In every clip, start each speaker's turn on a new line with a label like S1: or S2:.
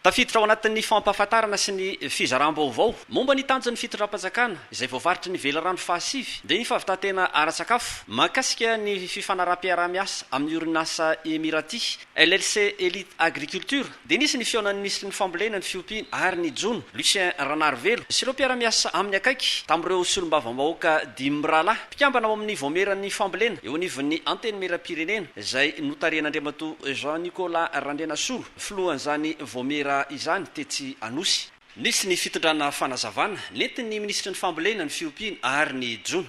S1: Tafiditra ao anatin'ny fampahafantarana sy ny fizaràm-baovao momba ny tanjon'ny fitondram-panjakana izay voavaritry ny Velirano fahasivy dia ny fahavitantena ara-tsakafo mahakasika ny fifanaraham-piaraha-miasa amin'ny orinasa Emirati LLC Elite Agriculture dia nisy ny fihaonan'ny Minisitrin'ny Fambolena, ny Fiompiana ary ny Jono, Lucien Ranarivelo sy ireo mpiara-miasa aminy akaiky tamin'ireo Solombavambahoaka dimy mirahalahy mpikambana ao amin'ny Vaomieran'ny Fambolena eo anivon'ny Antenimierampirenena izay notarihan'Andriamatoa Jean Nicolas Randrianasolo. filohan'izany Vaomiera izany tetsy Anosy. Nisy ny fitondrana fanazavana nentin'ny minisitry ny Fambolena, ny Fiompiana ary ny Jono.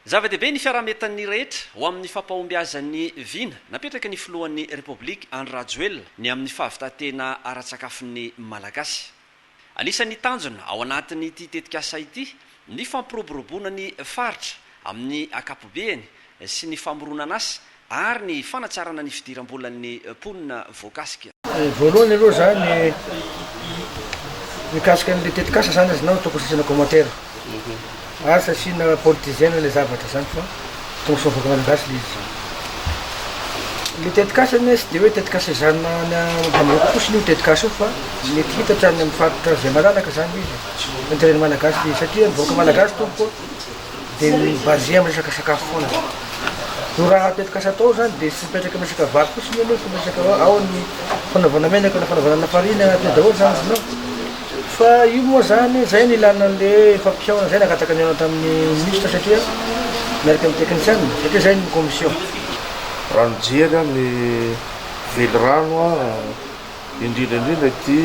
S1: Zava-dehibe ny fiaraha-mientan'ny rehetra ho amin'ny fampahombiazan'ny vina napetraky ny filohan'ny Repoblika Andry Rajoelina ny amin'ny fahavitantena ara-tsakafon'ny Malagasy. Anisan'ny tanjona ao anatin'ity tetikasa ity ny fampiroboroboana ny faritra amin'ny ankapobeany sy ny famoronan'asa ary ny fanatsarana ny fidiram-bolan'ny mponina voakasika. Voalohany aloha
S2: za ny mikasika an'le tetikasa zany azonao ataoko sasana commentaire. Aza asiana politisiana ilay zavatra zany fa tongosoa vahoaka malagasy ilay izy zany. Ilay tetikasa anie tsy dia hoe tetikasa ezahina any ambanivohitra fotsiny io tetikasa io fa mety hitatra any amin'ny faritra izay malalaka zany ilay izy e. Intérêt-n'ny malagasy ilay izy satria ny vahoaka malagasy tompoko a dia mi-basé amin'ny resaka sakafo foana zany. Io raha tetikasa atao zany dia tsy mipetraka amin'ny resaka vary fotsiny anie fa miresaka hoe ao ny fanaovana menaka na fanaovana lafarina, teo daholo zany izy no. Fa io moa zany, zay no ilana anle efa mpihaona zay nangataka nihaona tamin'ny ministra satria miaraka amin'ny technician, satria zay no commission. Raha
S3: mijery aho ny velirano indrindra indrindra ity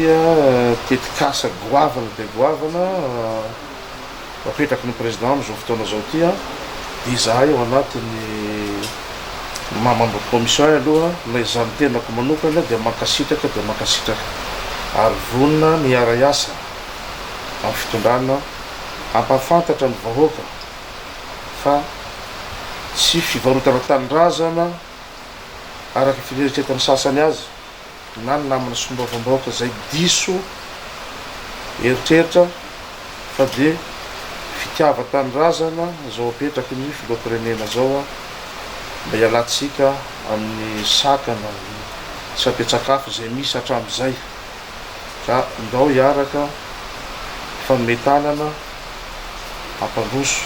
S3: tetikasa goavana dia goavana, Apetraky ny Président amin'izao fotoana izao ity an, dia izahay ao anatin'ny Membres de Commission ahy aloha na izaho ny tenako manokana dia mankasitraka dia mankasitraka ary vonona ny hiara-hiasa amin'ny fitondrana hampahafantatra ny vahoaka fa tsy fivarotana tanindrazana araka ny fineritretan'ny sasany azy na ny namana solombavambahoaka izay diso eritreritra fa dia fitiavan-tanindrazana izao apetraky ny filoham-pirenena izao mba hialantsika amin'ny sakana ny tsy ampian-tsakafo izay misy hatramin'izay ka ndao hiaraka hifanome tanana hampandroso